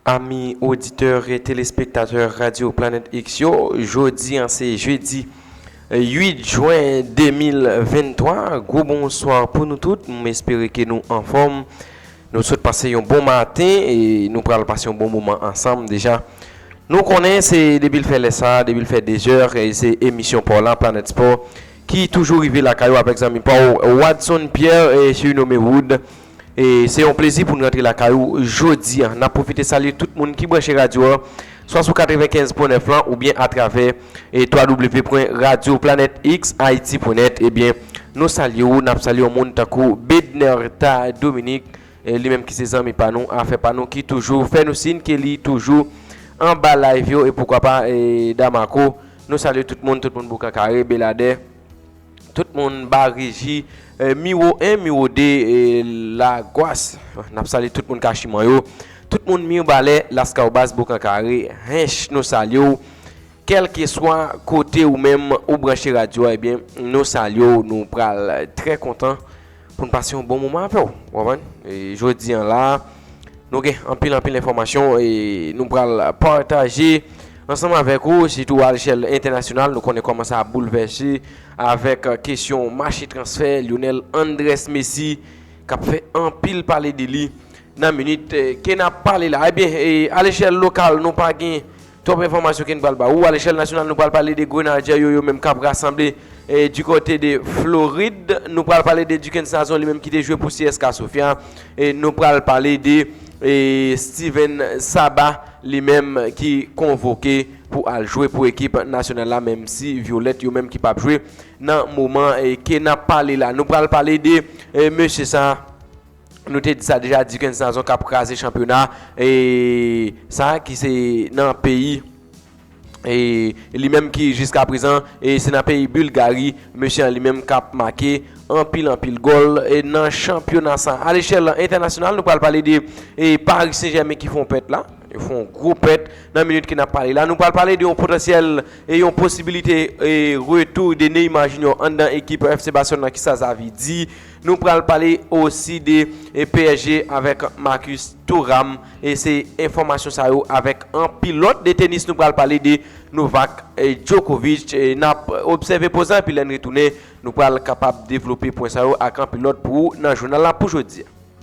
Ami oditè e telespektatè Radyo Planèt X yo, jodi an se jedi 8 jwen 2023, gwo bonswa pou nou tout, m espere ke nou anfòm. Nou sot pase yon bon maten e nou pral pase yon bon moman ansanm deja. Nou konnen se depi l fè lè sa, depi l fè dezè, se emisyon pa w la, Planèt Spò, ki toujou rive lakay ou avèk zanmi pa w, Wadson Pierre, sirinome Wood. E se yon plezi pou n rantre lakay ou jodi an. N ap pwofite salye tout moun ki branche radyo a. swa sou 95 pwen 9 lan oubyen atravè www.radioplanetxhaiti.net ebyen nou salye ou nap salye yon moun tankou Bednerta Dominique li menm ki se zanmi pa nou afè pa nou ki toujou fè nou sin ke li toujou anba live yo e poukwa pa Damarco nou salye tout moun tout moun boukan kare Beladè. Tout moun ba reji miwo 1 miwo 2 la gwas nap salye tout moun kachiman yo tout moun mirbalè laskawbas boukan kare hinche nou salye w kelke swa kote ou menm ou branche radyo a ebyen nou salye w nou pral trè kontan Pou n pase yon bon moman avè w. Ou konprann? E jodi an la a, nou gen anpil anpil enfòmasyon e nou pral pataje ansanm avèk ou, sitou alchèl entènasyonal. Nou konnen kòman sa ap boulvèse avèk kesyon mache transfè Lyonel Andrès Messi k ap fè anpil pale de li nan minit ke n ap pale la. Ebyen, e alechèl lokal nou pa gen. Twòp enfòmasyon ken pral ba ou alechèl nasyonal nou pral pale de grenadjè yo yo menm kap rasanble di kote de florid nou pral pale de dikens nazon li menm ki te jwe pou cska sofia nou pral pale de stiven saba li menm ki konvoke pou al jwe pou ekip nasyonal la menm si violèt yo menm ki pap jwe nan moman ke nap pale la nou pral pale de mesye sa Nou te di sa deja, Duckens Nazon kap kraze chanpyona sa ki se nan peyi li menm ki jiska prezan se nan peyi Bulgari mesye an li menm kap make anpil anpil gòl nan chanpyona sa. A lechèl entènasyonal nou pral pale de Paris Saint Germain ki fon pèt la, yo fon gwo pèt nan minit ke nap pale la. Nou pral pale de yon potansyèl e yon posibilite retou de Neymar Junior anndan ekip FC Barcelone la kisa sa vle di. Nou pral pale osi de psg avèk Marcus Thuram e se enfòmasyon sa yo avèk anpil lòt de tenis nou pral pale de Novak Djokovic nap obsève poz la epi lèn retounen nou pral kapab devlope pwen sa yo ak anpil lòt pou ou nan jounal la pou jodi a.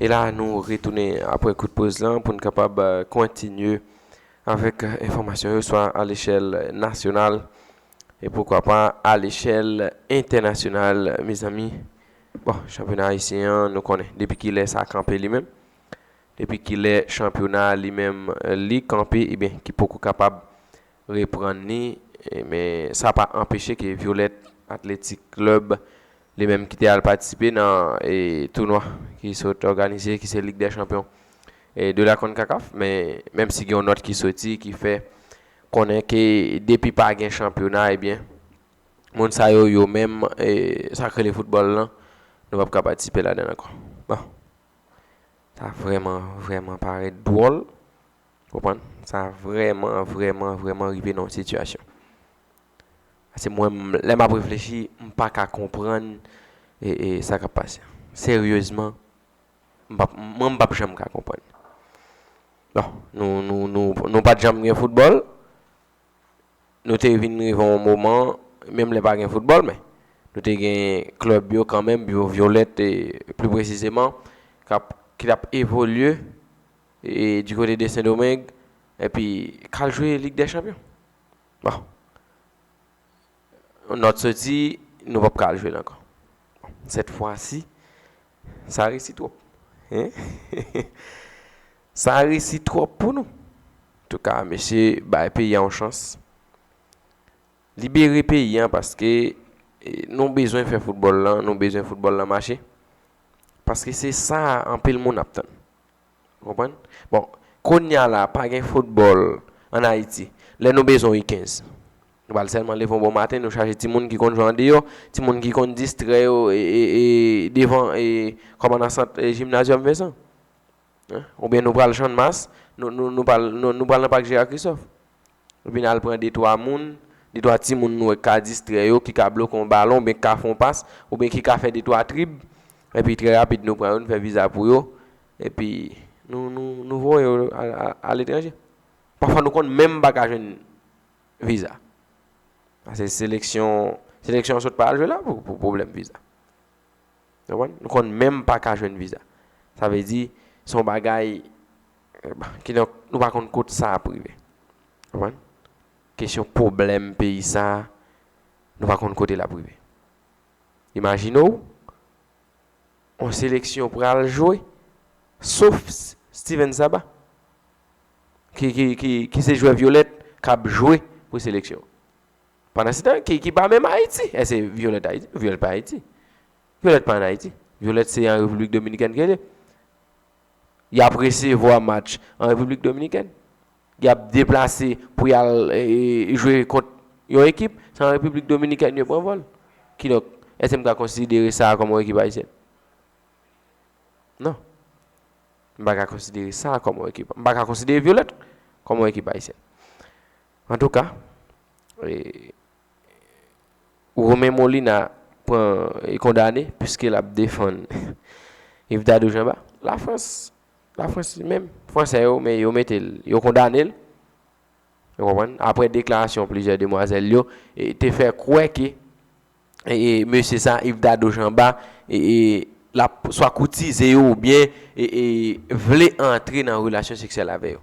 E la nou retounen apre kout poz lan pou n kapab kontinye avèk enfòmasyon yo swa alechèl nasyonal E poukwa pa a lechèl entènasyonal mezanmi. Bon, chanpyona ayisyen an nou konnen depi kilè sa kanpe li menm? Depi kilè chanpyona a li menm li kanpe ebyen ki poko kapab reprann li men sa pa anpeche ke Violette Athletic Club li menm ki te al patisipe nan tounwa ki sot òganize ki se Lig dè chanpyon de la Concacaf men menm si gen yon nòt ki soti ki fè Konnen ke depi pa gen chanpyona ebyen moun sa yo yo menm sa k rele foutbòl lan nou pap ka patisipe ladan l ankò. Bon sa vrèman vrèman parèt dwòl ou konprann sa vrèman vrèman vrèman rive nan yon sitiyasyon pase mwen menm lè map reflechi m pa ka konprann sa kap pase seryezman M pap mwen m pap janm ka konprann. Bon, nou nou nou nou pat janm gen foutbòl, nou te vin rive yon moman menm lè pa gen foutbòl men nou te gen klèb yo kanmenm yo Violette e pli presizeman kap ki tap evolye e di kote de Sendomeng epi k al jwe lig dè chanpyon. Bon, yon nòt soti nou pap ka al jwe l ankò. Bon, sèt fwasi Sa resi trop hein Sa resi trop pou nou Antouka mesye bay peyi a yon chans Libere peyi a paske nou bezwen fè foutbòl lan nou bezwen foutbòl lan mache paske se sa anpil moun ap tann Ou konprann? Bon, kounya la, pa gen foutbòl an Ayiti. Lè nou bezwen U 15, nou pral sèlman leve yon bon maten, nou chaje timoun ki konn jwe andeyò, timoun ki konn distrè yo devan kòman nan sant Gymnasium Vincent? Oubyen nou pral Channmas, nou pral nan Pak Gérard Christophe? Vin al pran detwa moun, detwa timoun nou wè k ka distrè yo, ki ka bloke yon balon oubyen ki ka fè yon pas, oubyen ki ka fè detwa trib. Epi trè rapid nou pran yo, nou fè viza pou yo. Epi nou voye yo aletranje. Pafwa nou konn menm pa ka jwenn viza. Pase seleksyon an sot pa al jwe la pou pwoblèm viza. Nou konn menm pa ka jwenn viza. Sa vle di, se yon bagay, kidonk, nou pa konn kot sa ap rive. Konprann? Kesyon pwoblèm peyi sa, nou pa konn kote l ap rive. Imajine w, yon seleksyon pral jwe, sof Steven Saba, ki se jwè vyolèt, k ap jwe pou seleksyon. Pandansetan, ki pa menm Ayiti. Èske Violette Ayiti? Non, Violette pa Ayiti. Violette pa ann Ayiti. Violette se an Repiblik Dominikèn ke l ye. Y ap resevwa match an Repiblik Dominikèn. Y ap deplase pou y al jwe kont yon ekip. Se an Repiblik Dominikèn yo pran vòl. Kidonk, èske m ka konsidere sa a kòm yon ekip ayisyèn? Non. M pa ka konsidere sa a kòm yon ekip. M pa ka konsidere Violette kòm yon ekip ayisyèn. Antouka, Romain Molina pran kondane piske l ap defann Yves Dadou Jamba. Lafrans, Lafrans li menm, Fransè yo men yo mete l, yo kondane l, ou konprann, aprè deklarasyon plizyè demwazèl yo te fè kwè ke mesye sa Yves Dadou Jamba l ap swa koutize yo oubyen vle antre nan relasyon seksyèl avè yo.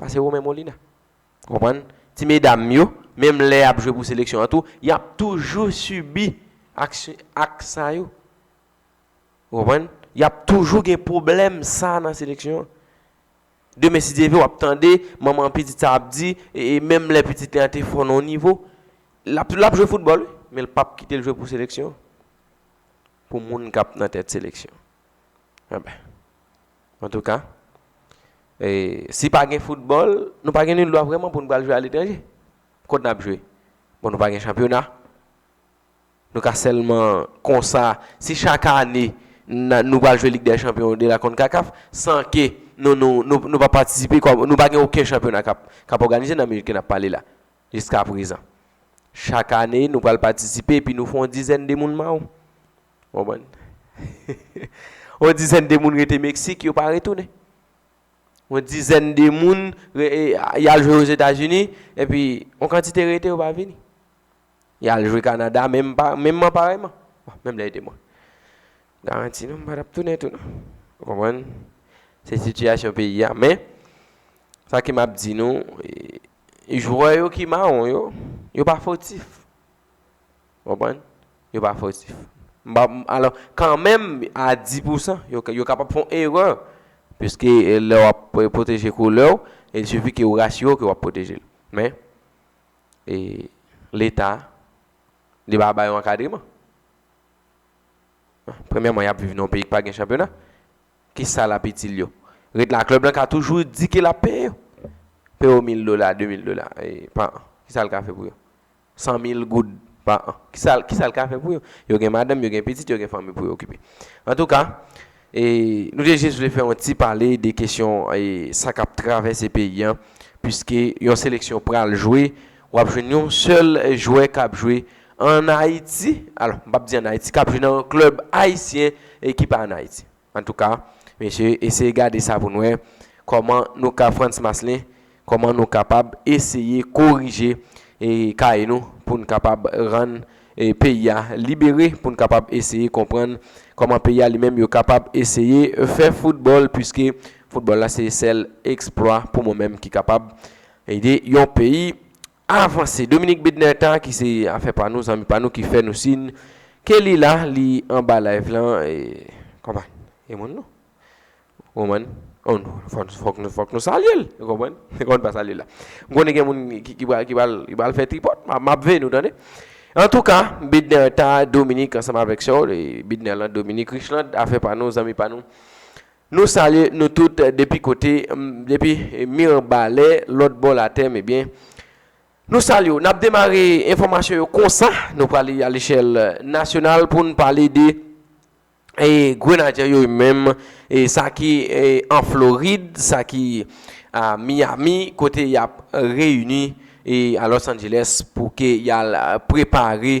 Pase Romain Molina. Ou konprann? Ti medam yo, menm lè y ap jwe pou seleksyon an tou, y ap toujou sibi aksyon, aks sa yo. Ou konprann? Y ap toujou gen pwoblèm sa a nan seleksyon an. Demen si Dye vle, w ap tande manman pitit sa a ap di, e menm lè pitit li an te fò nan yon nivo, l ap l ap jwe foutbòl wi, men l pap kite l jwe pou seleksyon an, pou moun k ap nan tèt seleksyon an. Anben. Antouka, si pa gen foutbòl, nou pa gen ni dwa vrèman pou nou pral jwe aletranje. Kot n ap jwe? Bon, nou pa gen chanpyona. Nou ka sèlman konsa, si chak ane nou pral jwe Lig dè Chanpyon de la Concacaf, san ke nou pa patisipe, nou pa gen oken chanpyona k ap òganize nan minit ke n ap pale la, jiskaprezan. Chak ane, nou pral patisipe epi nou fè yon dizèn de moun mawon. Konprann? On dizèn de moun rete Meksik, yo pa retounen. On dizèn de moun y al jwe Ozetazini, epi on kantite rete yo pa vini. Y al jwe Kanada menmman parèyman. Bon, menm lè yo te bon. M garanti nou m pa t ap tounen tou non. Ou konprann? Se sitiyasyon peyi a. Men, sa ke m ap di nou, jwè yo ki mawon yo, yo pa fotif. Ou konprann? Yo pa fautif. M pa, alò, kanmenm a di pou san, yo kapab fè yon erè, piske lè w ap pwoteje koulè w, il sifi ke ou rasire w ke w ap pwoteje l. Men, Leta, li pa ba yo ankadreman. Premyèman, y ap viv nan yon peyi ki pa gen chanpyona. Ki sa l ap itil yo? Ret la, klèb lan ka toujou di ke l ap peye yo. Peye yo mil dola, de mil dola pa an. Ki sa l ka fè pou yo? 100 mil goud pa an. Kisa l kisa l ka fè pou yo? Yo gen madanm, yo gen pitit, yo gen fanmi pou yo okipe. Antouka, e nou te jis vle fè yon ti pale de kesyon e sa k ap travèse peyi an piske yon seleksyon pral jwe, w ap jwenn yon sèl jwè k ap jwe ann Ayiti, alò m p ap di ann Ayiti, k ap jwe nan yon klèb ayisyen e ki pa ann Ayiti. Antouka mesye eseye gade sa pou n wè kòman nou ka Frantz Maslin kòman nou kapab eseye korije kay nou pou n kapab rann peyi a libere pou n kapab eseye konprann kòman peyi a li menm yo kapab eseye fè foutbòl puiske foutbòl la se sèl eksplwa pou mwen menm ki kapab ede yon peyi Avanse. Dominique Bednairta ki se afè pa nou, zanmi pa nou ki fè nou sin ke li la, li anba live lan e konprann. E moun nou. Ou konprann? Ou nou. Fòk nou fòk nou salye l. Ou konprann? Ou konprann pa salye l la. M konnen gen moun ki ki pral ki pral ki pral fè tripòt. M ap m ap veye nou tande. Antouka, Bednairta, Dominique ansanm avèk sè w e Bednaire lan, Dominique Richland, afè pa nou, zanmi pa nou. Nou salye nou tout depi kote m depi mirebalè lòt bò latèm ebyen nou salye w nap demare enfòmasyon yo konsa nou prale alechèl nasyonal pou n pale de e grenadyè yo yo menm e sa ki an florid sa ki a miyami kote yap reyini e a lòs anjelès pou ke yal prepare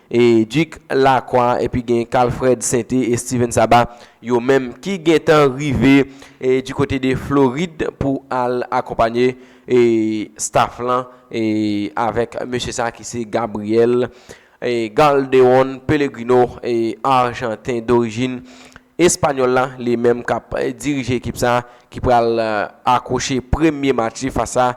E Duc Lacroix epi gen Carl Fred Sainté e Steven Saba yo menm ki gentan rive du kote de Florid pou al akonpanye staff lan avèk mesye sa ki se Gabriel Galderon Pellegrino Arjanten dorijin Espanyòl la li menm k ap dirije ekip sa ki pral akwoche premye match li fas a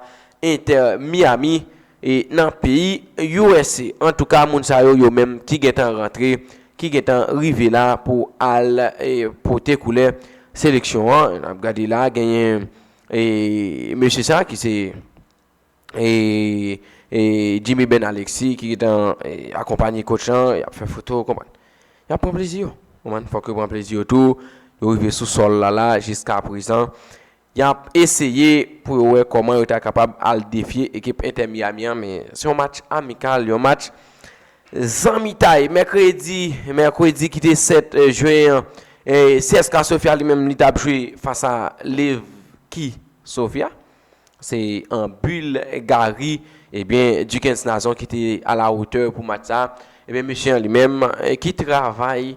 Inter Miami. e nan peyi usa antouka moun sa yo yo menm ki gentan rantre ki gentan rive la pou al pote koulè seleksyon an nap gade la genyen mesye sa ki se Jimmy Ben Alexis ki gentan akonpanye kotch lan yap fè foto konprann yap pran plezi yo konprann fòk yo pran plezi yo tou yo rive sou sòl la la jiska prezan Y ap eseye pou yo wè kòman yo ta kapab al defye ekip Inter Miami an men se yon match amikal, yon match zanmitay. Mèkredi Mèkredi ki te 7 Jwen an CSKA Sofia li menm li t ap jwe fas a Levski Sofia se an Bulgari ebyen Duckens Nazon ki te a la wotè pou match sa ebyen mesye an li menm ki travay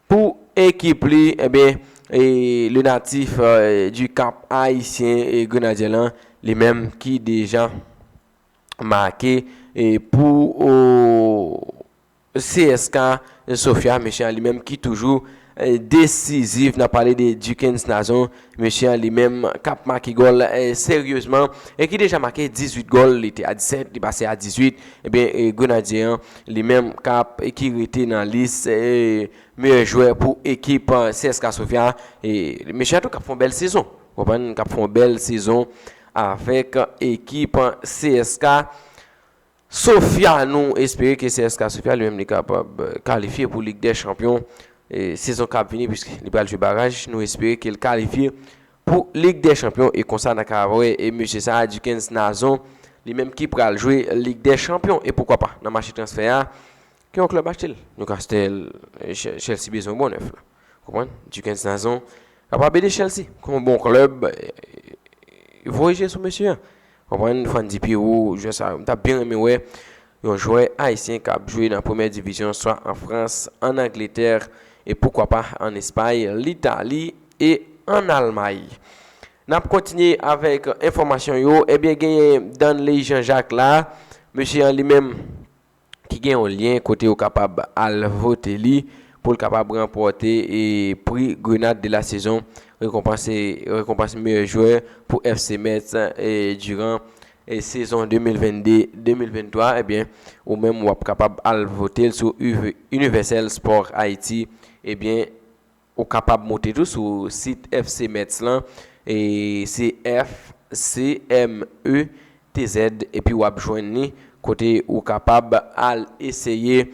Pou ekip li, ebyen le natif du Cap Haïtien Grenadyen lan li menm ki deja make pou CSKA Sofia, mesye a li menm ki toujou desizif, n ap pale de Duckens Nazon Mesye an li menm k ap make gòl seryezman e ki deja make 18 gòl, li te a 17, li pase a 18, ebyen Grenadye an li menm k ap ki rete nan lis meyè jwè pou ekip CSKA Sofia. E mesye an tou k ap fè yon bèl sezon, ou konprann, k ap fè yon bèl sezon avèk ekip CSKA. Sofia nou espere ke CSKA Sofia li menm li kapab kalifye pou Lig dè Chanpyon sezon kap vini puiske li pral jwe baraj nou espere ke l kalifye pou Lig dè Chanpyon e konsa nan ka wè e mesye sa Duckens Nazon li menm ki pral jwe Lig dè Chanpyon e poukwa pa nan mache transfè a ke yon klèb achte l Newcastle Chelsea bezwen bon nèf la ou konprann Duckens Nazon kapab ede Chelsea kon bon klèb voye je sou mesye an. Konprann fan dpi ou jwè sa yo. M tap byen renmen wè yon jwè ayisyen kap jwe nan premyè divizyon swa an Frans, an Angletè e poukwa pa an Espay, Litali e an Almay. Nap kontinye avèk enfòmasyon yo, ebyen genyen Danley Jean Jacques la, mesye an li menm. ki gen yon lyen kote ou kapab al vote li pou l kapab ranpòte pri Grenade de la Saison, rekonpans meyè jwè pou FC Metz diran sezon 2022-2023, ebyen ou menm wap kapab al vote l sou Universel Sport Haiti, ebyen. Ou kapab moute tou sou sit FC Metz lan, se FCMETZ, epi wap jwenn li, kote ou kapab al eseye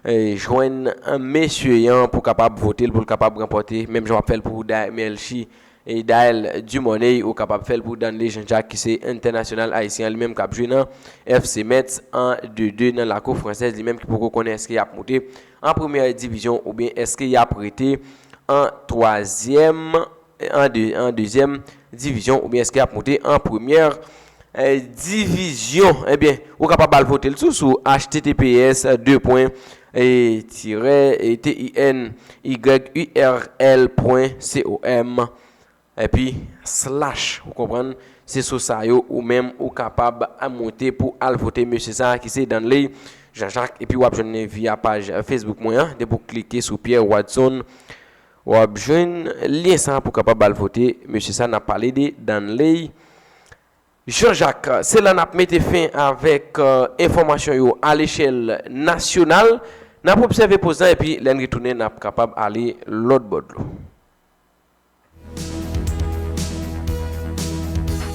jwenn mesye yan pou kapab vote l pou l kapab ranpòte, menm jan wap fè l pou Daymel Chi Dael Dumornay ou kapab fèl pou Danley Jean Jacques ki se entènasyonal ayisyen an li menm kap jwe nan FC Metz an de 2 nan lakou fransèz li menm ki poko konnen eske yap moute an premyè divizyon oubyen eske yap rete an twazyèm an dezyèm divizyon oubyen eske yap moute an premyè Divizyon ebyen ou kapab al pote l tou sou https de pwen tirè tin yurl pwen com epi slash ou konprann se sou sa yo ou menm ou kapab a moute pou al vote mesye sa ki se Danley Jean Jacques epi w ap jwenn li via paj Facebook mwen an depi w klike sou Pierre Watson Wap jwenn lyen sa pou kapab al vote mesye sa nap pale de Danley Jean Jacques. Se la nap mete fen avèk enfòmasyon yo a lechèl nasyonal. Nap obsève poz lan epi lèn retounen nap kapab ale lòt bò dlo.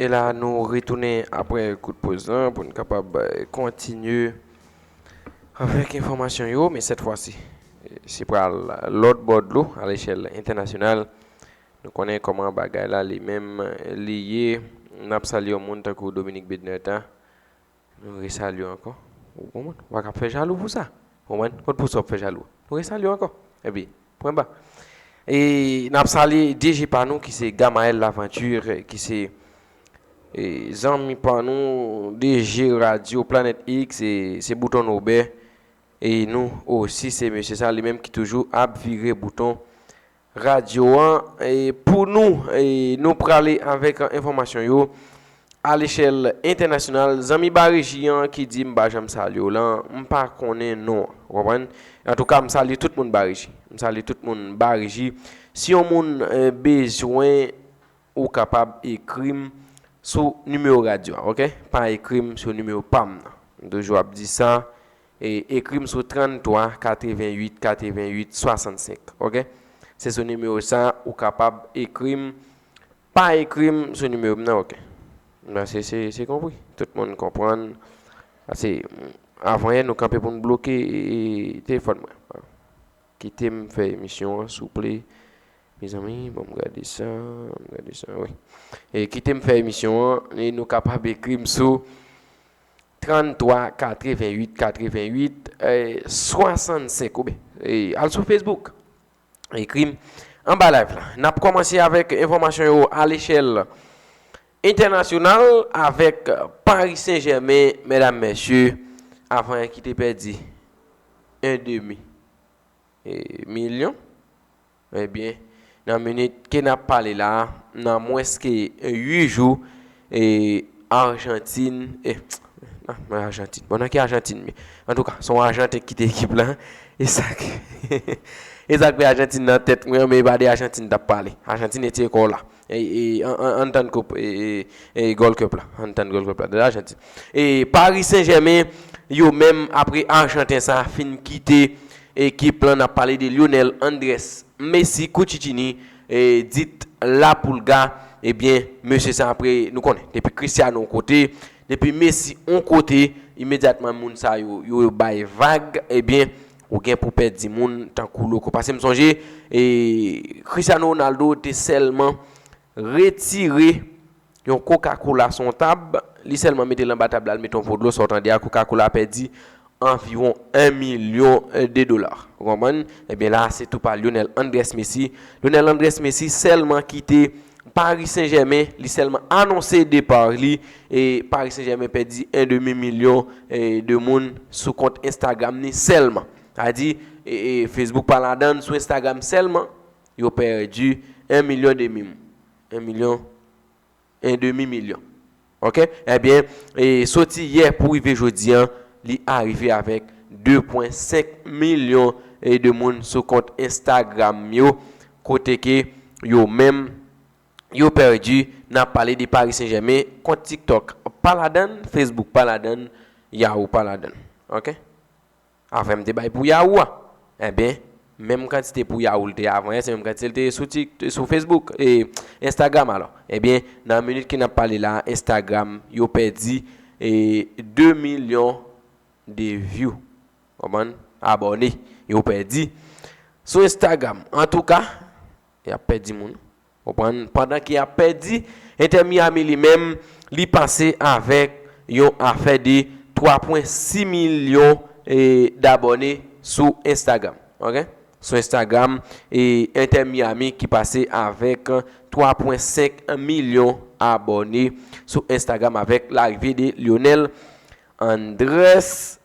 E la nou retounen apre kout poz lan pou n kapab kontinye avèk enfòmasyon yo, men sèt fwa si se pral lòt bò dlo a lechèl entènasyonal. Nou konnen kòman bagay la li menm li ye. N ap salye yon moun tankou Dominique Bednaire ta. Nou resalye w ankò. Ou konprann? Ou pa ka fè jalou pou sa. Ou konprann? Kot Bosò ap fè jalou a? Nou resalye w ankò. Epi, pwen ba. E n ap salye DG pa nou ki se Gamaël Laventure, ki se zanmi pa nou, DG radyo Planet X, se bouton nou bè. E nou osi se mesye sa, li menm ki toujou ap vire bouton Radyo an pou nou. Nou prale avèk enfòmasyon yo alechèl entènasyonal. Zanmi Bareji an ki di m pa janm salye w lan, m pa konnen non. Ou konprann? Antouka, m salye tout moun Bareji. M salye tout moun Bareji. Si yon moun bezwen, ou kapab ekri m sou nimewo radyo a. Ok? Pa ekri m sou nimewo pa m nan. M toujou ap di sa. Ekri m sou 33 88 88 65 ok se sou nimewo sa ou kapab ekri m pa ekri m sou nimewo m nan ok mesi se konpri tout moun konprann ase avan yè nou kanpe pou nou bloke telefòn mwen kite m fè emisyon an souple mezanmi bon m gade sa m gade sa wi kite m fè emisyon an nou kapab ekri m sou. 33 88 88 65 oubyen al sou Facebook ekri m anba live la. N ap kòmanse avèk enfòmasyon yo alechèl entènasyonal avèk Paris Saint Germain mèdam mèsye avan ki te pèdi 1 demi milyon. Ebyen, nan minit ke n ap pale la, nan mwens ke 8 jou, Arjantin, nan Arjantin, bon nan ki Arjantin menm? Antouka, se yon Arjanten ki kite ekip la, e sa k, e sa k fè Arjantin nan tèt mwen an, men e pa de Arjantin n t ap pale. Arjantin etye kò w la. Ann tann koup Gold Cup la. Ann tann Gold Cup la. Dela Janti. Paris Saint Germain yo menm apre Arjanten sa fin kite ekip lan nap pale de Lionel Andres Messi Cuccittini dit La Pulga ebyen mesye sa apre nou konnen depi Cristiano yon kote depi Messi yon kote imedyatman moun sa yo yo bay vag ebyen Ou gen pou pèdi moun tankou loko. Pase m sonje Cristiano Ronaldo te sèlman retire yon koka kola son tab, li sèlman mete l anba tab la, l mete yon po dlo, sa w tande a koka kola a pèdi anviwon 1 milyon de dola. Ou konprann? Ebyen la a se tou pa Lionel Andrès Messi. Lionel Andrès Messi sèlman kite Paris Saint Germain, li sèlman anonse depar li Paris Saint Germain pèdi 1 demi milyon de moun sou kont Instagram ni sèlman. Sa di, Facebook pa ladann, sou Instagram sèlman, yo pèdi 1 milyon demi moun. 1 milyon, 1 demi milyon. Ok? Ebyen, soti yè pou rive jodi an, li arive avèk 2.5 milyon de moun sou kont Instagram yo, kote ke yo menm, yo pèdi nan pale de Paris Saint Germain kont TikTok pa ladann Facebook pa ladann Yahoo pa ladann ok aprèm te bay pou Yahoo a enben menm kantite pou Yahoo lte avan yè se menm kantite lte sou tik sou Facebook e Instagram alò enben nan minit ke nap pale la Instagram yo pèdi e 2 milyon de view konprann abòne yo pèdi sou Instagram antouka Y ap pèdi moun. Konprann? Pandan ke y ap pèdi, Inter Miami li menm, li pase avèk yon afè de 3 pwen 6 milyon dabòne sou Instagram. Ok? Sou Instagram, e Inter Miami ki pase avèk 3 pwen 5 milyon abòne sou Instagram avèk larive de Lionel Andres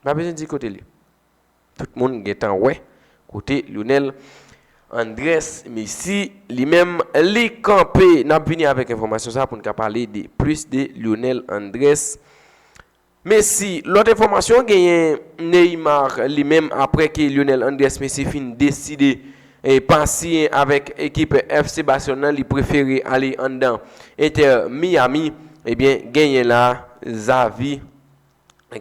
M pa bezwen di kote l ye. Tout moun gentan wè kote Lionel Andrés Messi li menm li kanpe. N ap vini avèk enfòmasyon sa pou n ka pale de plis de Lionel Andrés Messi. Lòt enfòmasyon genyen Neymar li menm aprè ke Lionel Andrés Messi fin deside pa siyen avèk ekip FC Barcelone nan li prefere ale anndan Inter Miami. Ebyen genyen la Xavi.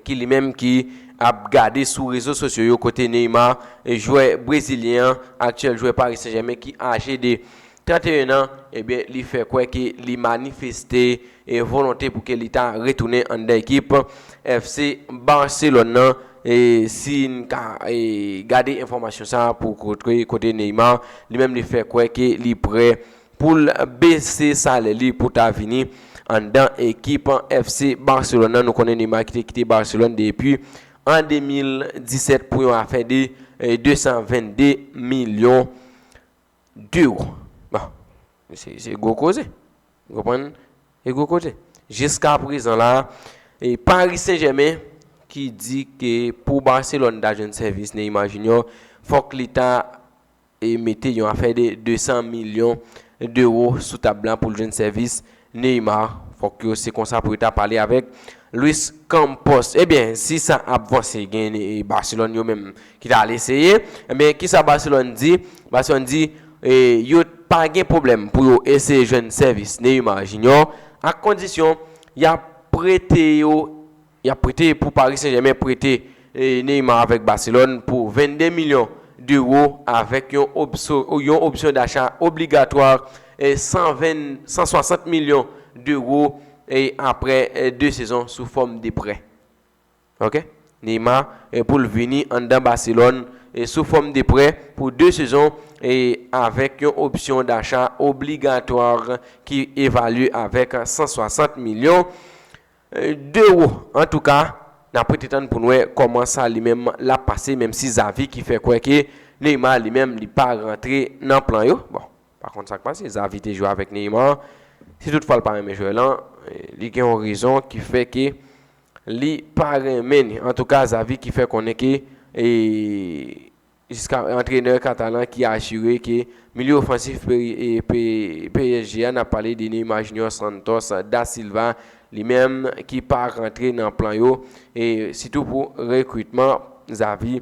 ki li menm ki ap gade sou rezo sosyo yo kote Neymar, jwè brezilyen an, aktyèl jwè Paris Saint Germain ki aje de 31 an, ebyen li fè kwè ke li manifeste volonte pou ke li ta retounen anndan ekip FC Barcelone nan, e si n ka gade enfòmasyon sa pou kote Neymar li menm li fè kwè ke li prè pou l bese salè li pou ta vini anndan ekip FC Barcelone nan. Nou konnen Neymar ki te kite Barcelone depi an 2017 pou yon afè de 222 milyon D'euro. Bon, se gwo koze. Ou konprann? Se gwo koze. Jiska prezan la, e Paris Saint-Germain ki di ke pou Barcelone ta jwenn sèvis Neymar Junior, fòk li ta e mete yon afè 200 milyon dewo sou tab la pou l jwenn sèvis Neymar. Fòk yo se konsa pou yo ta pale avèk Luis Campos. Ebyen, si sa ap vanse, gen Barcelone yo menm ki ta al eseye. Ebyen, ki sa Barcelone di? Barcelone di, yo pa gen pwoblèm pou yo eseye jwenn sèvis Neymar Junior, a kondisyon y ap prete yo. Yap prete pou Paris Saint Germain prete Neymar avèk Barcelone pou 22 milyon d'euro avèk yon yon option d'achat obligatoire 120 160 milyon d'euro aprè 2 sezon sou fòm de prè. Ok Neymar poul vini anndan Barcelone sou fòm de prè pou 2 sezon avèk yon option d'achat obligatoire ki evalye avèk 160 milyon. Dero antouka nap rete tann poun wè kòman sa li menm lap pase menm si Xavi ki fè kwè ke Neymar li menm li pa rantre nan plan yo bon pa konn sak pase Xavi te jwe avèk Neymar si tout fwa l pa renmen jwè lan li gen yon rezon ki fè ke li pa renmen antouka Xavi ki fè konnen ke Jiska antrenè katalan ki asire ke milye ofansif psg a, nap pale de Neymar Junior Santos Da Silva, li menm ki pa rantre nan plan yo, e sitou pou rekritman Xavi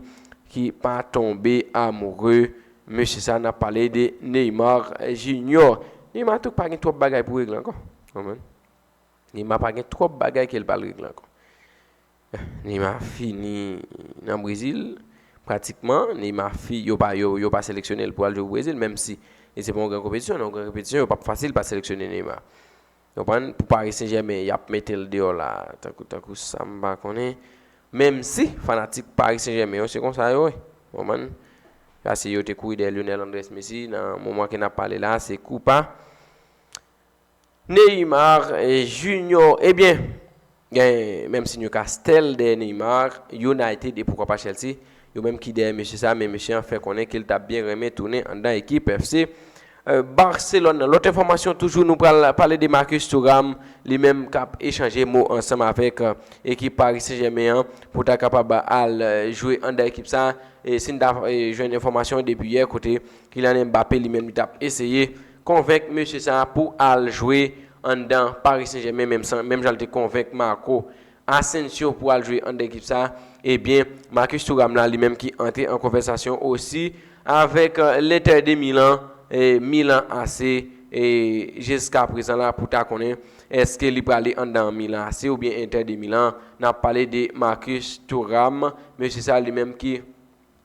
ki pa tonbe amoure mesye sa, nap pale de Neymar Junior. Neymar tou pa gen twòp bagay pou regle ankò. Neymar pa gen twòp bagay ke li pa al regle ankò. Neymar fini nan Brezil pratikman, Neymar fi yo pa yo pa seleksyone l pou al jwe pou Brezil menm si li se pa yon gran konpetisyon, nan yon gran konpetisyon yo pap fasil pa seleksyone Neymar. Konprann? Pou Paris Saint Germain yap mete l deyò la tankou tankou sa m pa konnen menm si fanatik Paris Saint Germain yo se konsa yo ye konprann paske yo te kouri dèyè Lionel Andrés Messi nan moman ke nap pale la se kou pa Neymar Junior ebyen gen menm si Newcastle dèyè Neymar, United e poukwa pa Chelsea yo menm ki dèyè mesye sa men mesye an fè konnen ke l ta byen renmen tounen anndan ekip FC Barcelone nan. Lòt enfòmasyon toujou nou pral pale de Marcus Thuram li menm k ap echanje mo ansanm avèk ekip Paris Saint Germain an pou ta kapab al jwe anndan ekip sa si n ta jwenn enfòmasyon depi yè kote Kylian Mbappé li menm li t ap eseye Konvenk mesye sa pou al jwe anndan Paris Saint Germain menm san menm jan l te konvenk Marco Asensio pou al jwe anndan ekip sa ebyen Marcus Thuram la li menm ki antre an konvèsasyon osi avèk l'Inter de Milan e Milan AC e jiska prezan la pou ta konnen èske li prale anndan Milan AC oubyen Inter de Milan nap pale de Marcus Thuram mesye sa li menm ki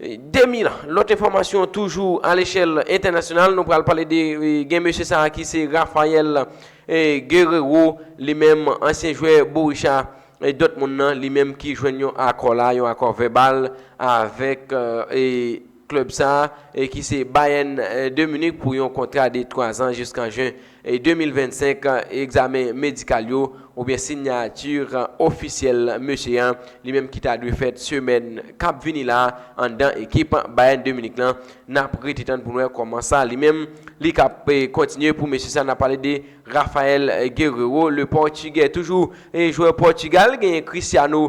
2000. Lòt enfòmasyon toujou a lechèl entènasyonal, nou pral pale de gen mesye sa a ki se Raphael Guerreiro, li menm ansyen jwè Borussia Dortmund nan, li menm ki jwenn yon akò la, yon akò vèbal avèk klèb sa a ki se Bayern de Munich pou yon kontra de 3 zan jiskan jen 2025, egzamen medikal yo, oubyen sinyati ofisyèl mesye an, li menm ki ta dwe fèt semèn k ap vini la anndan ekip Bayern de Munich lan. N ap rete tann pou n wè kòman sa li menm li ka p kontinye pou mesye sa. N ap pale de Raphael Guerreiro, le Pòtigè toujou, jwè Pòtigal genyen Cristiano.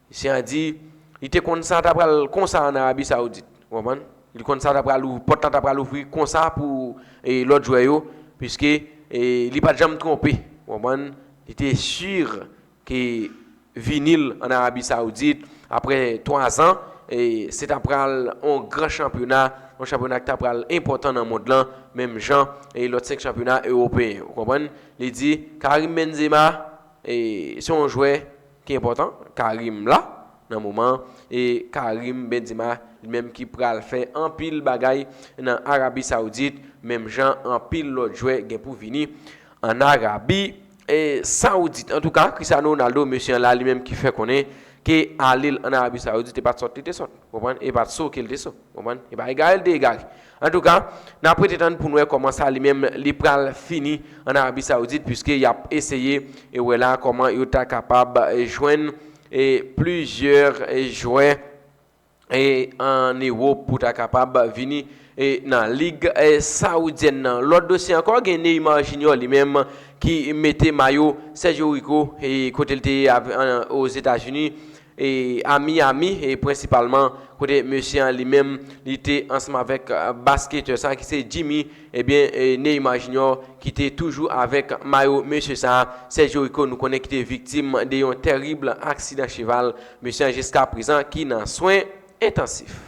Misye a di, li te konn sa ta pral konsa an Arabi Saoudit. Ou konprann? Li konn sa ta pral ou, pòt la ta pral ouvri konsa pou lòt jwè yo, piske li pa t janm twonpe. Ou konprann? Li te sur ke vini l an Arabi Saoudit, aprè twazan, se ta pral yon gran chanpyona, yon chanpyona ki ta pral enpòtan nan mond lan, menm jan lòt 5 chanpyona ewopeyen. Ou konprann? Li di, Karim Benzema, se yon jwè. Ki enpòtan Karim la nan moman an e Karim Benzema li menm ki pral fè anpil bagay nan Arabi Saoudit menm jan anpil lòt jwè gen pou vini an Arabi Saoudit. Antouka Cristiano Ronaldo mesye an la li menm ki fè konnen ke ale l an Arabi Saoudit e pat sòt li te sòt ou konprann e pat so ke l te so ou konprann e pa egare l te egare Antouka, n ap rete tann pou n wè kòman sa li menm li pral fini an Arabi Saoudit piske y ap eseye wè la kòman yo ta kapab jwenn plizyè jwè an Ewop pou ta kapab vini nan lig saoudyèn nan. Lòt dosye ankò gen Neymar Junior li menm ki mete mayo Sergio Rico kote l te ye Ozetazini a Miami, e prensipalman kote mesye an li menm li te ansanm avèk basketè sa ki se Jimmy, ebyen Neymar Junior ki te toujou avèk mayo mesye sa, Sergio Rico nou konnen ki te viktim de yon tèrib aksidan cheval, mesye an jiska prezan ki nan swen entansif.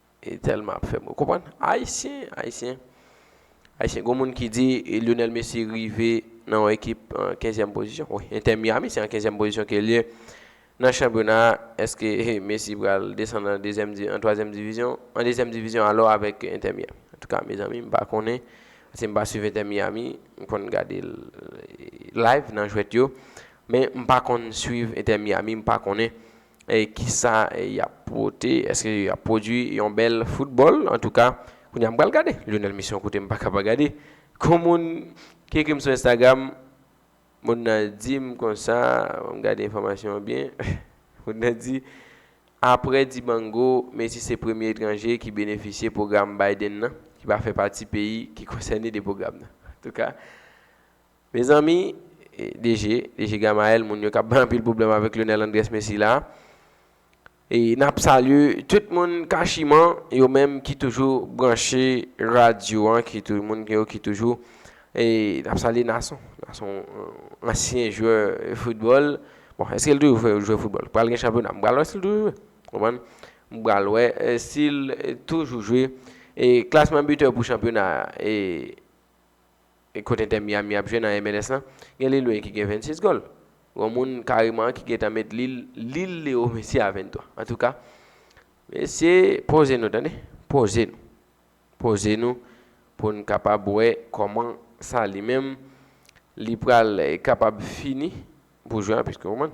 Telman ap fem konprann ayisyen ayisyen ayisyen gon moun ki di Lionel Messi rive nan yon ekip an kenzyèm pozisyon wi Inter Miami se an kenzyèm pozisyon ke liye nan chanpyona a eske Messi pral desann an dezyèm di an twazyèm divizyon an dezyèm divizyon alò avèk Inter Miami antouka mezanmi m pa konnen paske m pa swiv Inter Miami m konn gade l live nan jwèt yo men m pa konn swiv Inter Miami m pa konnen. kisa yap pote eske yap pwodwi yon bèl foutbòl antouka kounye a m pral gade Lionel Messi yon kote m paka pa gade kon moun ki ekri m sou Instagram moun nan di m konsa fò m gade enfòmasyon an byen moun nan di aprè Dibango Messi se premye etranje ki benefisye pwogram Biden nan ki pa fè pati peyi ki konsène de pwogram nan antouka. Mezanmi DG, DG Gamaël moun yo kap bay anpil pwoblèm avèk Lyonel Andrés Messi la. E nap salye tout moun kachiman yo menm ki toujou branche radyo an ki tou moun yo ki toujou e nap salye Nason. Nason ansyen jwè foutbòl. Bon eske l toujou fè jwè foutbòl? Pral gen chanpyona m pral wè si l toujou jwe. Konprann? M pral wè si l toujou jwe. E klasman bitè pou chanpyona a e. Kot Inter Miami ap jwe nan MLS lan? Gen Lil Wayne ki gen 26 gòl. Gon moun kareman ki gentan met Lil Lil Leo Messi a 23. Antouka, mesye, poze nou tande. Poze nou. Poze nou pou n kapab wè kòman sa li menm li pral kapab fini pou jwè an piske w konprann.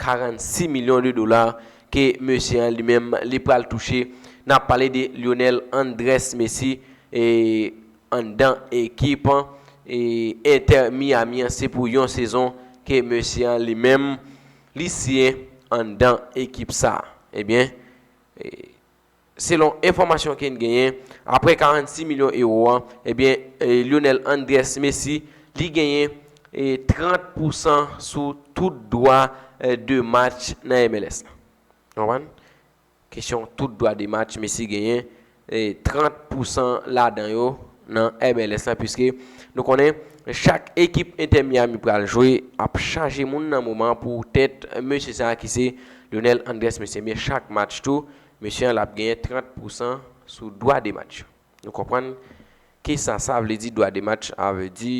46 milyon de dola ke mesye an li menm li pral touche, n ap pale de Lionel Andrés Messi anndan ekip Inter Miami an se pou yon sezon ke mesye an li menm li siyen anndan ekip sa. Ebyen. Selon enfòmasyon ke n genyen, aprè 46 milyon ewo an, ebyen Lionel Andrés Messi, li genyen 30 pousan sou tout dwa de match nan MLS la. Nou konprann? Kesyon tout dwa de match, Messi genyen 30 pousan ladan yo nan MLS la, puiske nou konnen chak ekip Inter Miami pral jwe ap chaje moun nan moman pou tèt mesye sa ki se Lionel Andrés Messi. Ebyen chak match tou, Mesye an lap genyen 30 pousan sou dwa de match. Nou konprann kesa sa vle di dwa de match a vle di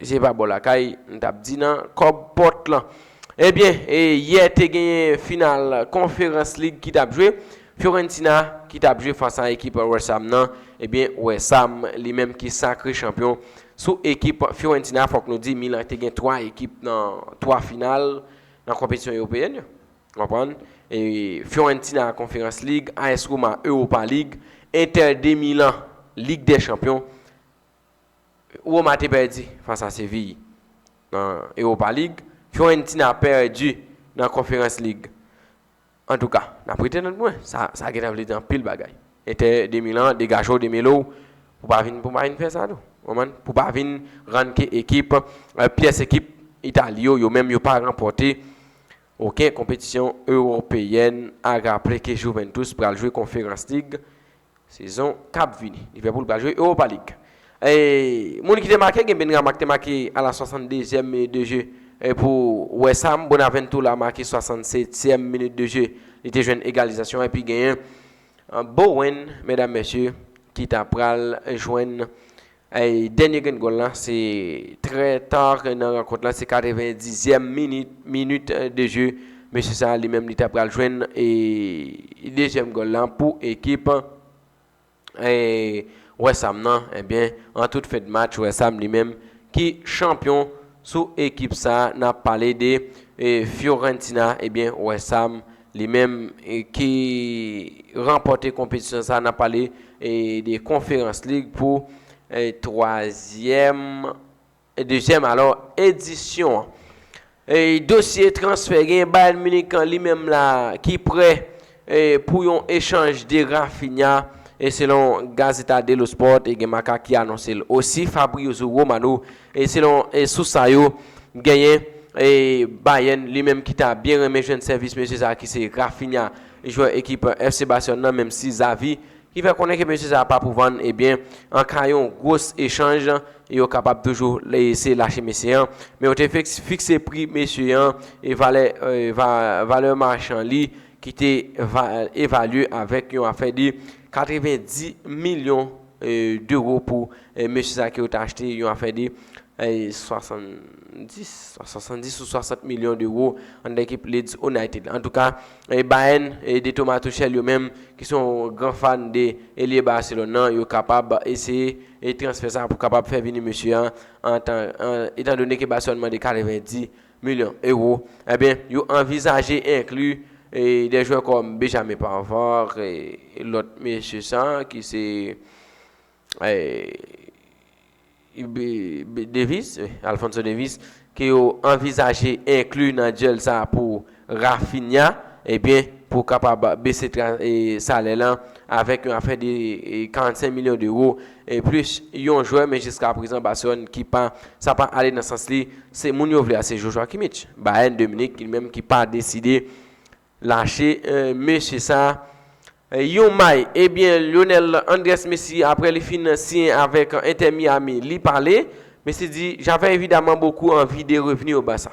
se pa bò lakay m tap di nan kòb pòt lan. Ebyen yè te genyen final konferans lig ki tap jwe. Fiorentina ki tap jwe fas a ekip West Ham nan. Ebyen West Ham li menm ki sakre chanpyon sou ekip Fiorentina fòk nou di Milan te gen 3 ekip nan 3 final nan konpetisyon ewopeyen yo. Konprann? Fiorentina a Conference League, AS Roma Europa League, Inter de Milan Ligue des Champions. Roma te pèdi fas a Séville nan Europa League. Fiorentina pèdi nan Conference League. Antouka, n ap rete nan dwen. Sa gentan vle di anpil bagay. Inter de Milan, degaje w, demele w pou pa vin fè sa tou. Konprann? Pou pa vin rann ke ekip, pyès ekip Itali yo, yo menm yo pa ranpòte. Ok konpetisyon Ewopeyèn a raple ke Juventus pral jwe Conference League sezon kap vini. Liverpool pral jwe Europa League. Moun ki te make gen Benrahma ki te make a la 62 zièm minit de je pou West Ham, Bonaventura make 67 zièm minit de je li te jwenn egalizasyon an epi genyen Bowen medam mesye ki ta pral jwenn Dènye grenn gòl la se trè ta nan rankont la, se 90 zyèm minit, minit de je. Mesye sa li menm li ta pral jwenn dezyèm gòl la pou ekip West Ham nan. Ebyen, an tout fen de match, West Ham li menm ki chanpyon sou ekip sa, n ap pale de Fiorentina, ebyen West Ham. Li menm ki ranpòte konpetisyon sa nan pale de Conference League pou twazyèm, dezyèm alò, edisyon an. Dosye transfè gen Bayern Munich li menm la ki prè pou yon echanj de Raphinha selon Gazzetta dello Sport e gen Marca ki anonse l osi. Fabrizio Romano Selon sous sa yo, genyen Bayern li menm ki ta byen renmen jwenn sèvis mesye sa ki se Raphinha, jwè ekip FC Barcelone nan menm si Xavi ki fè konnen ke mesye sa pa pou vann ebyen an ka yon gwos echanj yo kapab toujou eseye lache mesye an men yo te fikse pri mesye an e valè valè machan li ki te evalye avèk yon afè de 90 milyon 2 ro pou mesye sa ke yo ta achte yon afè de 70 70 ou 60 milyon de ro anndan ekip Leeds United la. Antouka, Bayern de Thomas Tuchel yo menm ki se yon gran fan de elye Barcelone nan, yo kapab eseye transfè sa pou kapab fè vini mesye an, etan done ke Barcelone mande 90 milyon ewo, enben yo anvizaje enkli de jwè kòm Béjamin Pavard e lòt mesye sa ki se Davis, Alphonso Davis, ke yo anvizaje enkli nan dyèl sa pou Raphinha, enben pou kapab bese salè lan avèk yon afè de 45 milyon dewo. E plis yon jwè men jiska prezan Barcelone ki pa sa pa ale nan sans li se moun yo vle a se Joshua Kimmich Bayern de Munich ki menm ki pa deside lache mesye sa yon may ebyen Lionel Andres Messi aprè li fin siyen avèk Inter Miami li pale Messi di j'avais évidemment beaucoup envie de revenir au Barça.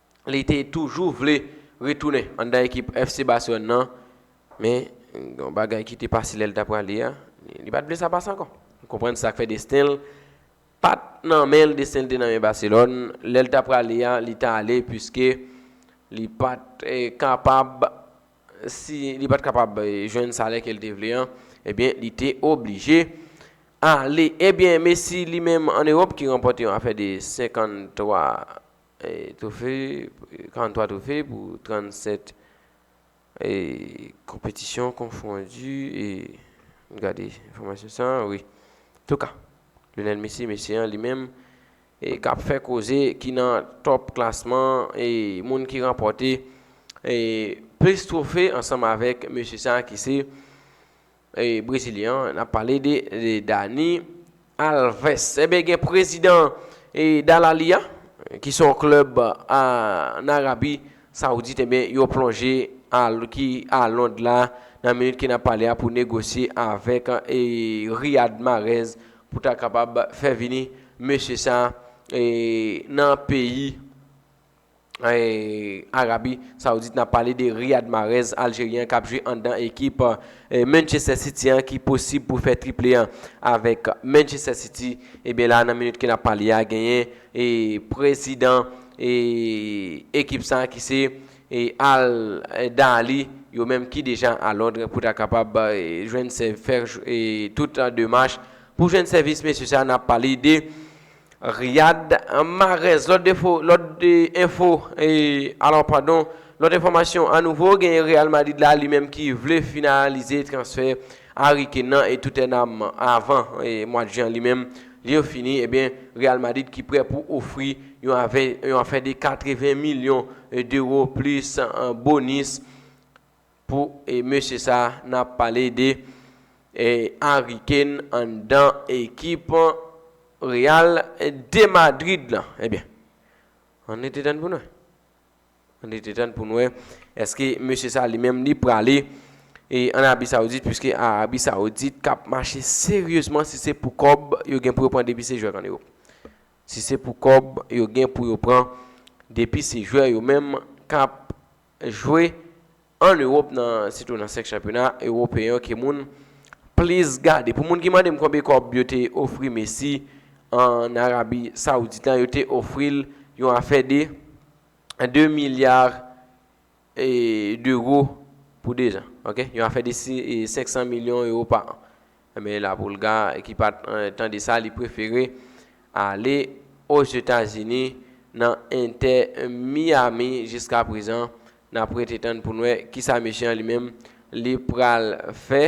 li te toujou vle retounen anndan ekip FC Barcelone nan, men yon bagay ki te pase lè li ta prale a, li pa t vle sa pase ankò. Nou konprann sa k fè desten l pa t nan men l, desten l te nan men Barcelone. Lè li ta prale a, li ta ale puiske li pa t kapab si li pa t kapab jwenn salè ke l te vle an, ebyen li te oblije ale. Ebyen Messi li menm an Ewòp ki ranpòte yon afè de 53 Twofe, 43 twofe pou 37 konpetisyon konfondi e m gade enfòmasyon sa a wi. Antouka, Lionel Messi, mesye an li menm k ap fè koze ki nan tòp klasman e moun ki ranpòte plis twofe ansanm avèk mesye sa a ki se. Brezilyen an, n ap pale de Dani Alves. Enben gen prezidan Dalali a, ki se yon klèb an Arabi Saoudit, enben yo plonje ki a Lond la nan minit ke n ap pale a pou negosye avèk Riyad Marèz pou ta kapab fè vini mesye sa nan peyi. Arabi Saoudit nap pale de Riyad Mahrez Aljeryen an kap jwe anndan ekip Manchester City an ki posib pou fè triple an avèk Manchester City ebyen la nan minit ke nap pale a genyen prezidan ekip sa ki se Al Dahli yo menm ki deja a Londres pou ta kapab jwenn fè tout demach pou jwenn sèvis mesye sa nap pale de Riyad, Mahrez, Lòt defo, lòt enfo, alò padon, lòt enfòmasyon anouvo genyen Real Madrid la li menm ki vle finalize transfè Harry Kane nan e Tottenham avan mwad jen an li menm li yo fini ebyen Real Madrid ki prè pou ofri yon avè yon afè de 80 milyon dewo plis bonis Pou mesye sa nap pale de Harry Kane anndan ekip Real de Madrid lan ebyen an rete tann poun wè an rete tann poun wè eske mesye sa li menm li prale an Arabi Saoudit puiske Arabi Saoudit kap mache seryezman si se pou kòb yo gen pou yo pran depi se jwè an Ewop si se pou kòb yo gen pou yo pran depi se jwè yo menm kap jwe an Ewop nan sitou nan 5 chanpyona Ewopeyen yo ke moun plis gade. Pou moun ki mande m konbyen kòb yo te ofri Messi an Arabi Saoudit la, yo te ofri l yon afè de 2 milya dewo pou 2 zan. Ok? Yon afè de 500 milyon ewo pa an. Enben la Pulga ki pat tande sa li prefere ale Ozetazini nan Inter Miami jiska prezan nap rete tann poun wè kisa mesye an li menm li pral fè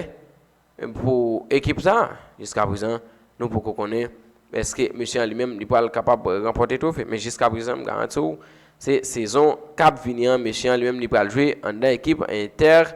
pou ekip sa jiska prezan nou poko konnen eske mesye an li menm li pral kapab ranpòte trofe men jiska prezan m garanti w se sezon kap vini an mesye an li menm li pral jwe anndan ekip Inter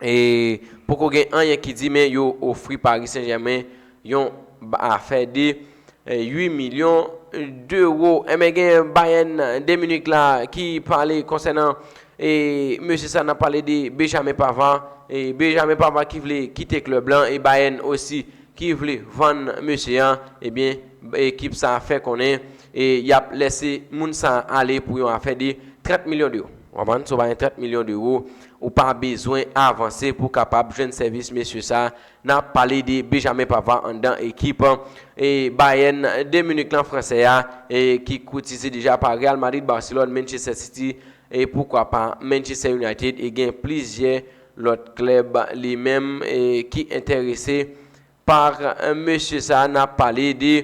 e poko gen anyen ki di men yo ofri Paris Saint-Germain yon afè de 8 milyon dewo. Enben gen Bayern de Munich la ki pale konsènan e mesye sa nan pale de Benjamin Pavard. E Benjamin Pavard ki vle kite klèb lan e Bayern osi ki vle vann mesye an. Ebyen ekip sa fè konnen e yap lese moun sa ale pou yon afè de 30 milyon dewo. Wap vann sou Bayern 30 milyon dewo. Ou pa bezwen avanse pou kapab jwenn sèvis mesye sa a. N ap pale de Benjamin Pavard anndan ekip Bayern de Munich lan, fransè a ki kotize deja pa Real Madrid, Barcelone, Manchester City e poukwa pa Manchester United e gen plizyè lòt klèb li menm ki enterese pa mesye sa a. N ap pale de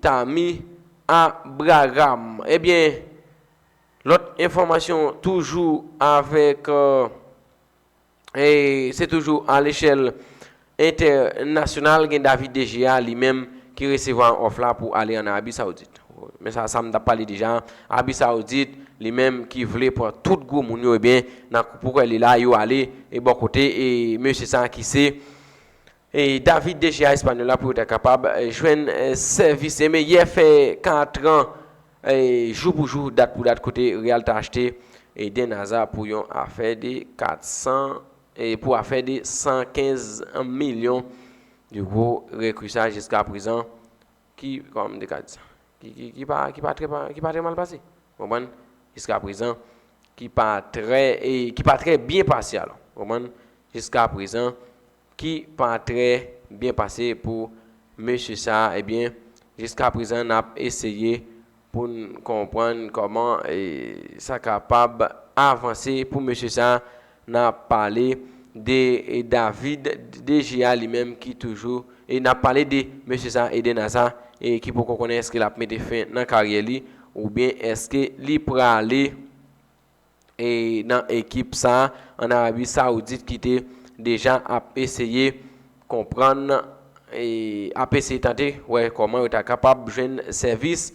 Tammy Abraham. Ebyen. Lòt enfòmasyon toujou avèk Se toujou a lechèl entènasyonal gen David De Gea li menm ki resevwa òf la pou ale an Arabi Saoudit. Men sa sa m t ap pale deja an, Arabi Saoudit li menm ki vle pran tout gwo moun yo ebyen nan koup ou kwè li la yo ale e bò kote e mesye sa ki se David de Gea Hispaniola pou yo ta kapab jwenn sèvis Aimé yè fè 4 an jou pou jou, dat pou dat kote Real ta achte Eden Hazard pou yon afè de 400 pou afè de 115 milyon euro rekri sa jiska prezan ki kòman m te ka di sa ki pa ki pa ki pa trè mal pase ou konprann jiska prezan ki pa trè ki pa trè byen pase alò ou konprann jiska prezan ki pa trè byen pase pou mesye sa a ebyen jiskaprezan n ap eseye pou n konprann kòman sa kapab avanse pou mesye sa a n ap pale de David DGA li menm ki toujou e n ap pale de mesye sa a Eden Hazard ki poko konnen èske l ap mete fen nan karyè li oubyen èske li prale nan ekip sa an Arabi Saoudit ki te deja ap eseye konprann ap eseye tante wè kòman yo ta kapab jwenn sèvis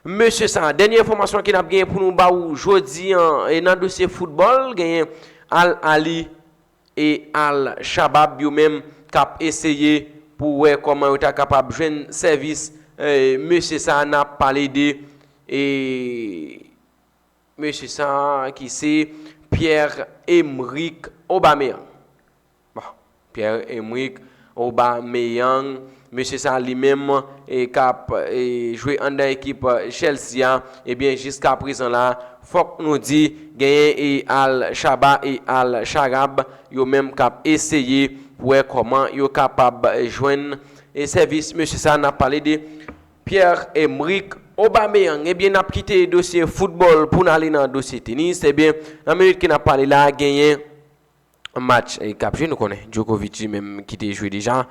mesye sa. Dènye enfòmasyon ki nap genyen pou nou ba ou jodi an e nan dosye foutbòl genyen Al Ahly e Al Shabab yo menm kap eseye pou wè kòman yo ta kapab jwenn sèvis mesye sa nap pale de e. Mesye sa a ki se Pierre-Emerick Aubameyang. Bon, Pierre-Emerick Aubameyang, mesye sa a li menm k ap jwe anndan ekip Chelsea a, ebyen jiskaprezan la, fòk nou di genyen Al Shaba e Al Sharab yo menm k ap eseye pou wè kòman yo kapab jwenn sèvis mesye sa a, n ap pale de Pierre Emerick Aubameyang ebyen nap kite dosye football poun ale nan dosye tenis ebyen nan minit ke nap pale la genyen match kap jwe nou konnen Djokovic li menm kite jwe deja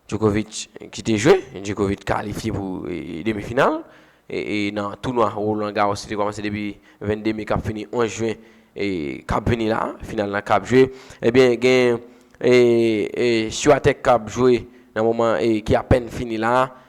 Djokovic kite jwe Djokovic kalifye pou demi final e nan tounwa Roland Garros ki te komanse depi 22 me kap fini 11 juin kap vini la final la kap jwe ebyen genyen Swiatek kap jwe nan moman ki apen fini la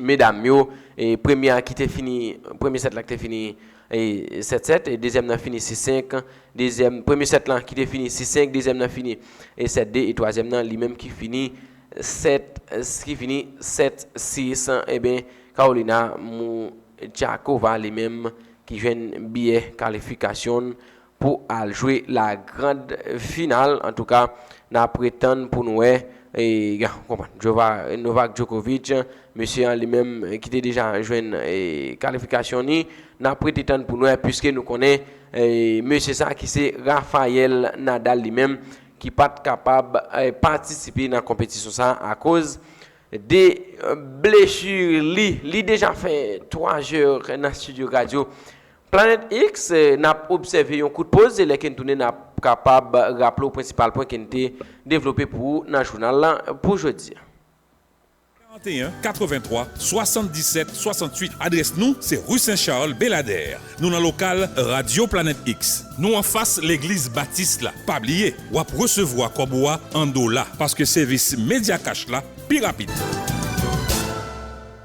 medam yo, premye a ki te fini, premye sèt la ki te fini 7-7, e dezyèm nan fini 6-5, dezyèm, premye sèt lan ki te fini 6-5, dezyèm nan fini 7-2, e twazyèm nan li menm ki fini 7, ki fini 7-6, e ben Karolina Mouchakova li menm ki jwenn biyè kalifikasyon l pou al jwe la grand final antouka na pretann pou nou wè Novak Djokovic mesye an li menm ki te deja jwenn kalifikasyon ni na prete tann pou nou wè pwiske nou konnen mesye sa ki se Rafael Nadal li menm ki pat kapab patisipe nan konpetisyon sa akoz de blesur li li deja fè 3 jè nan studio radio Planet X, nap obsève yon kout poz e lè ken tounen nap kapab raple w prensipal pwen ken te devlope pou ou nan jounal la pou jodi a. 41 83 77 68 Adrès nou se Rue Saint Charles Belladère Nou nan lokal Radio Planet X Nou anfas legliz Baptiste la Pa bliye wap resevwa kòb ou a an dola paske sevis Mediacash la pi rapid.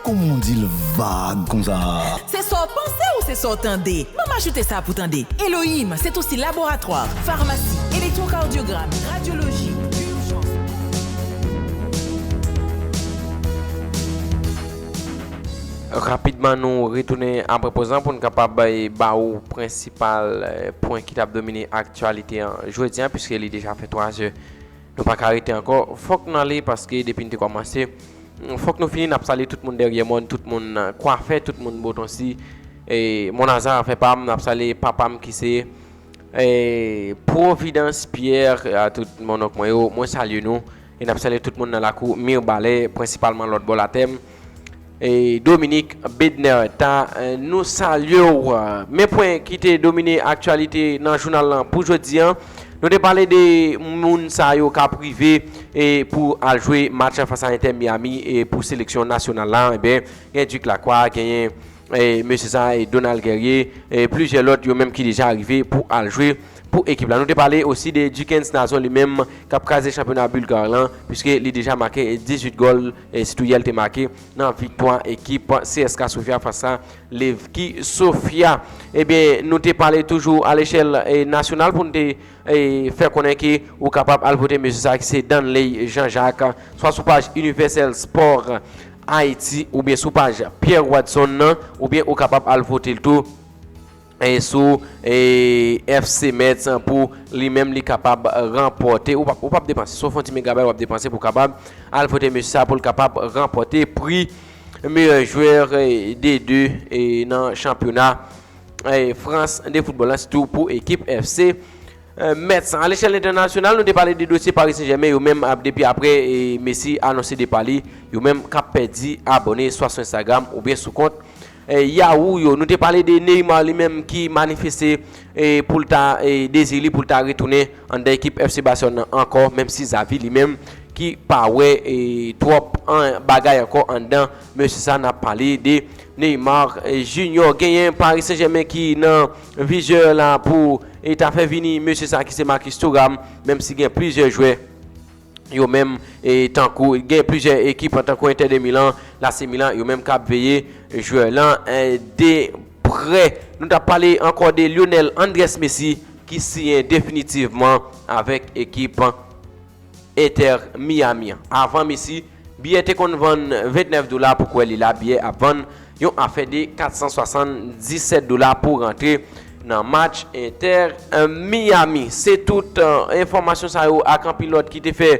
Kòman w di l vag konsa? Se sa w panse ou se sa w tande? Ban m ajoute sa pou w tande. Elohim, se tou si laboratwa, farmasi, elektwokardyogram, radyoloji, urjans, polisyon. Rapidman nou retounen apre poz lan pou n kapab ba ou prensipal pwen ki t ap domine aktyalite an jodi an piske li deja fè 3 zè. Nou pa ka rete ankò fòk nou ale paske depi n te kòmanse fòk nou fini n ap sale tout moun dèryè mòn tout moun kwafè tout moun botonsi monazan afè pa m n ap sale papa m ki se pwovidans pyè a tout mònonk mwen yo mwen salye nou e n ap sale tout moun nan lakou mirbalè prensipalman lòtbò latè m. E Dominique Bednaire ta nou salye w. Men pwen ki te domine aktyalite nan jounal lan pou jodi an. Nou te pale de moun sa yo ka prive e pou al jwe match an fasa Inter Miami e pou seleksyon nasyonal la. E ben gen Duc Lacroix, genyen e mesye sa e Donald Guerrier e plizyè lòt yo menm ki deja arive pou al jwe pou ekip la. Nou te pale osi de Duckens Nazon li menm kap kraze chanpyona Bulgar lan pwiske li deja make 18 gòl. E sitou yè li te make nan viktwa ekip CSKA Sofia fas a Levki Sofia. Ebyen nou te pale toujou a lechèl nasyonal pou nou te fè konnen ke ou kapab al vote mesye sa ki se Danley Jean Jacques swa sou paj Universel Sport Haiti oubyen sou paj Pierre Wadson nan oubyen ou kapab al vote l tou. sou FC Metz pou li menm li kapab ranpòte, ou pa ap depanse, sof yon ti megabay ou ap depanse pou kapab al pote mesye sa pou l kapab ranpòte pri meyè jwè de 2 nan chanpyona Frans de foutbòl la, sitou pou ekip FC Metz. A lechèl entènasyonal nou te pale de dosye Paris Saint-Germain yo menm ap depi apre Messi anonse depa li, yo menm kap pèdi abòne swa sou Instagram oubyen sou kont. Yahoo yo. Nou te pale de Neymar li menm ki manifeste pou l ta dezi li pou l ta retounen anndan ekip FC Barcelone nan ankò menm si Xavi li menm ki pa wè twòp bagay ankò anndan mesye sa nap pale de Neymar Junior. Genyen Paris Saint Germain ki nan vizè la pou ta fè vini mesye sa ki se Marcus Thuram menm si gen plizyè jwè. yo menm e tankou gen plizyè ekip tankou Inter de Milan, l'AC Milan yo menm kap veye jwè lan de prè. Nou tap pale ankò de Lionel Andres Messi ki siyen definitivman avèk ekip Inter Miami an. Avan Messi. Biyè te konn vann 29 dola pou kwè li la biyè ap vann yon afè de 477 dola pou rantre nan match Inter Miami. Se tout enfòmasyon sa yo ak anpil lòt ki te fè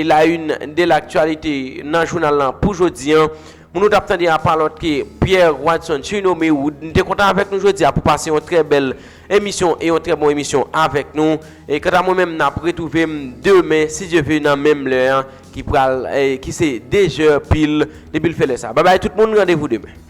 la une de l'actualité nan jounal lan pou jodi an. Moun ou tap tande a pa lòt ke Pierre Wadson Surnommé Wood. M te kontan avèk nou jodi a pou pase yon trè bèl Emisyon e yon trè bon emisyon avèk nou e kanta mwen menm nap retwouvem demen si Dye ve nan menm lè an ki pral ki se 2 jè pil depil fè lè sa babay tout moun randevou demen.